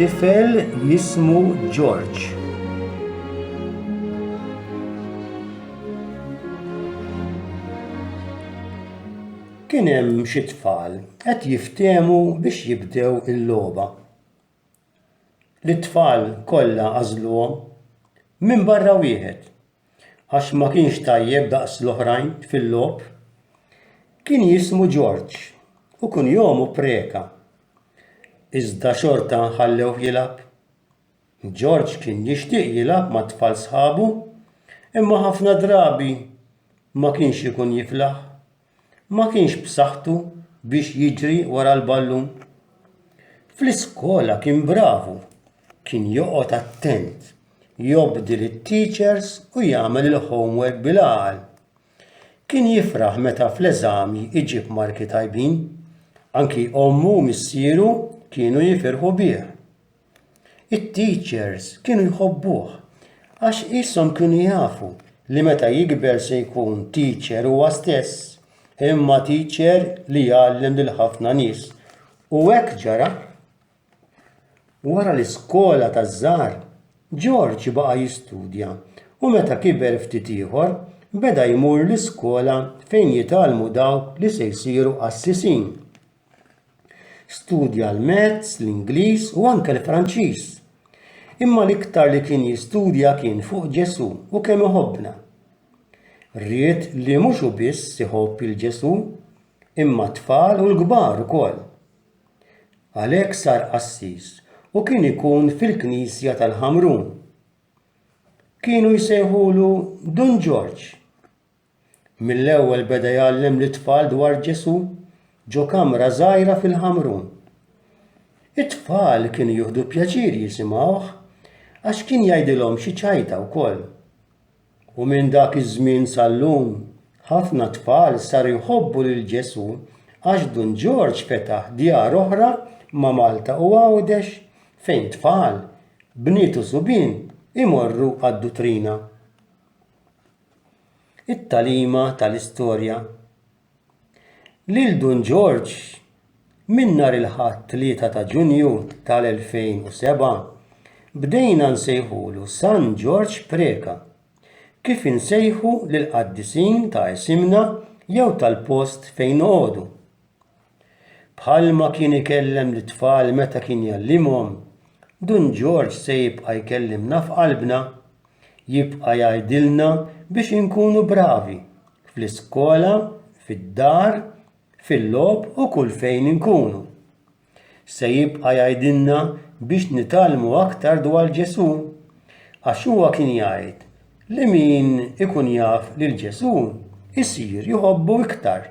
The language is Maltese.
tifel jismu George. Kien hemm xi tfal qed jiftehmu biex jibdew il-logħba. li t-tfal kollha għażluhom, minbarra wieħed, għax ma kienx tajjeb daqs l-oħrajn fil-logħob, kien jismu George u kunjomu Preca. Iżda xorta ħallewh jilgħab. George kien jixtieq jilgħab mat-tfal sħabu, imma ħafna drabi ma kienx ikun jiflaħ. ma kienx b'saħħtu biex jiġri wara l-ballun. Fl-iskola kien bravu, kien joqgħod attent, jobdi lit-teachers u jagħmel il-homework bil-għaqal. Kien jifraħ meta fl-eżami jġib marki tajbin, anki ommu u missieru kienu jifirħu bih. It-teachers kienu jħobbuh għax qishom kienu jafu li meta jikber se jkun teacher huwa stess, imma teacher li jgħallem lil ħafna nies. U hekk ġara. Wara l-iskola taż-żgħar, George baqa' jistudja u meta kiber ftit ieħor beda jmur l-iskola fejn jitgħallmu dawk li se jsiru qassisin. Studja l-Mezz, l-Ingliż u anke l-Franċiż. Imma l-iktar li kien jistudja kien fuq Ġesù u kemm iħobbna. Ried li mhux u biss iħobb il Ġesù, imma t-tfal u l-kbar ukoll. Għalhekk sar qassis u kien ikun fil-Knisja tal-Ħamrun. Kienu jsejħulu Dun Ġorġ. Mill-ewwel beda jgħallem lit-tfal dwar Ġesù ġo kamra żgħira fil-Ħamrun. It-tfal kienu jieħdu pjaċir jisimgħuh għax kien jgħidilhom xi ċajta wkoll. U minn dak iż-żmien sal-lum, ħafna tfal saru jħobbu lil Ġesù għax Dun Ġorġ fetaħ djar oħra ma' Malta u Għawdex fejn tfal, bniet u subien imorru għad-dutrina. It-tagħlima tal-istorja Lil Dun Ġorġ minn nhar il-Ħadd 3 ta' Ġunju tal-2007 bdejna nsejħulu San Ġorġ Preca kif insejħu lill-qaddisin ta' isimna jew tal-post fejn noqogħdu. Bħalma kien ikellem lit-tfal meta kien jgħallimhom, Dun Ġorġ se jibqa' jkellimna f'qalbna. Jibqa' jgħidilna biex inkunu bravi, fl-iskola, fid-dar, fil-logħob u kull fejn inkunu. Se jibqa' jgħidilna biex nitgħallmu aktar dwar Ġesù. Għax huwa kien jgħid li min ikun jaf lil Ġesù jsir jħobbu iktar.